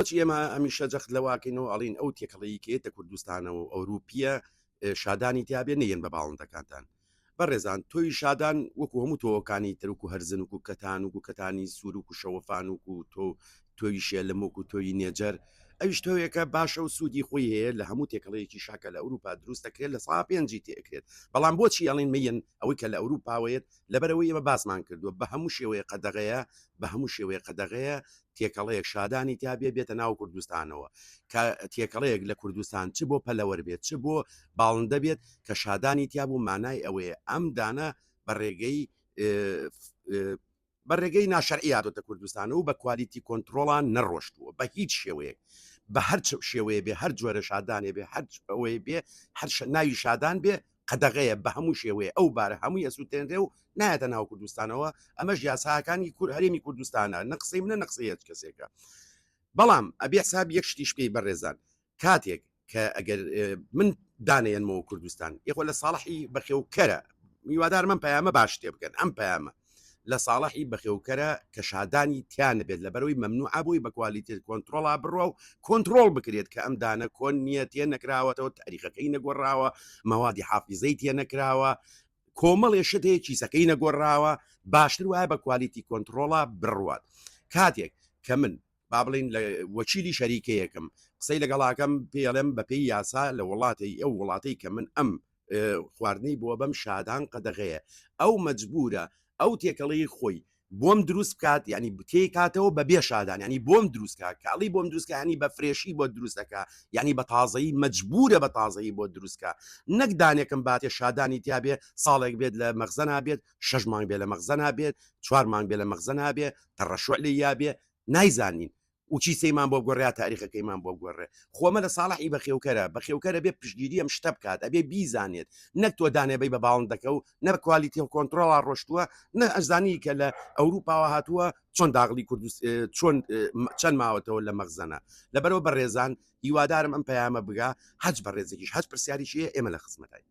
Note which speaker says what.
Speaker 1: بۆچی ئێمە هەمیشە جەخت لەوەکەینەوە ئەڵێین ئەو تێکەڵەیی کە یەتە کوردستانەوە و ئەوروپیە شادانی تیابێ نەیەن بە باڵندەکانتان بەڕێزان تۆی شادان وەکو هەموو تۆوەکانی ترک و هەرزن و کوکەتان و گوکەتانی سوروک و شەوەفان و کو تۆ تۆوی شێلمۆک و تۆوی نێجەر ئەویش تۆوێکە باشە و سوودی خۆی هەیە لە هەموو تێکەڵەیەکی شاکە لە ئەوروپا دروست دەکرێت لە سا پێنجی تێکرێت بەڵام بۆچی ئەڵین مەیەن ئەوەی کە لە ئەوروپاوەیەت لەبەر ئەوەی ئێمە باسمان کردووە بە هەموو شێوەیەک قەدەغەیە، بە هەموو شێوەیەک قەدەغەیە تێکەڵەیەک شادانی تیا بێ بێتە ناو کوردستانەوە، کە تێکەڵەیەک لە کوردستان چ بۆ پەلەوەر بێت چ بۆ باڵندە بێت کە شادانی تیا بوو مانای ئەوەیە ئەم دانە بە ڕێگەی بە ڕێگەی ناشەرعی هاتۆتە کوردستانە و بە کوالیتی کۆنتترۆڵان نەڕۆشتووە بە هیچ شێوەیەک بە هەرچ شێوەیە بێ هەر جۆرە شادانێ بێ هەر ئەوەی بێ هەر ناوی شادان بێ قەدەغەیە بە هەموو شێوەیە ئەو بارە هەمووی ئەسوتێنرێ و نایەتە ناو کوردستانەوە ئەمەش یاساکانی کور هەرێمی کوردستانە نە قسەی منە نە قسەی هێچ کەسێکە بەڵام ئەبێ حساب یەک شتیش پێی بەڕێزان کاتێک کە ئەگەر من دانێنمەوە کوردستان یخۆ لە ساڵحی بەخێوکەرە میوادار من پەیامە باش تێ بگەن ئەم پەیامە لە ساڵحی بەخێوکەرە کە شادانی تیا نەبێت لەبەرەوەی مەمنوعە بۆی بە کوالیتێت کۆنتڕۆڵا بڕوا و کۆنتڕۆڵ بکرێت کە ئەم دانە کۆن نیە تێ نەکراوەتەوە تاریخەکەی نەگۆڕراوە مەوادی حافیزەی تێ نەکراوە کۆمەڵێ شت هەیە کیسەکەی نەگۆڕراوە باشتر وایە بە کوالیتی کۆنتڕۆڵا بڕوات کاتێک کە من با بڵێین لە وەکیلی شەریکەیەکم قسەی لەگەڵاکەم پێڵێم بەپێی یاسا لە وڵاتی ئەو وڵاتەی کە من ئەم خواردنەی بۆ بەم شادان قەدەغەیە ئەو مەجبورە ئەو تێکەڵی خۆی بۆم دروست بکات ینی بتێ کاتەوە بە بێ شادان ینی بۆم دروستکە کاڵی بۆم دروستکانی بە فرێشی بۆ دروستەکە ینی بە تازایی مەجبورە بە تازایی بۆ دروستکە نەک دانێکم باتێ شادانی تیاابێ ساڵێک بێت لە مەغزەنا بێت شش مانگ بێ لە مەغزەنا بێت چوار مانگ بێ لە مەغزەنا بێ تەڕەشوع لە یا بێ نایزانین وچی سەیمان بۆ بگۆڕێ یا تاریخەکەیمان بۆ بگۆڕێ خۆ مەلا ساڵح ی بەخێوکەرە بەخێوکەرە بێ پشتگیری ئەم شتە بکات ئەبێ بیزانێت نەک تۆ دانێ بەی بە باڵندەکە و نە بە کوالیتی کۆنتڕۆڵا ڕۆشتووە نە ئەزانی کە لە ئەوروپاوە هاتووە چۆن داغڵی کوردست چۆن چەند ماوەتەوە لە مەغزەنە لەبەرەوە بەڕێزان هیوادارم ئەم پەیامە بگا حەج بەڕێزێکیش هەست پرسیاریشیە ئێمە لە خزمەتین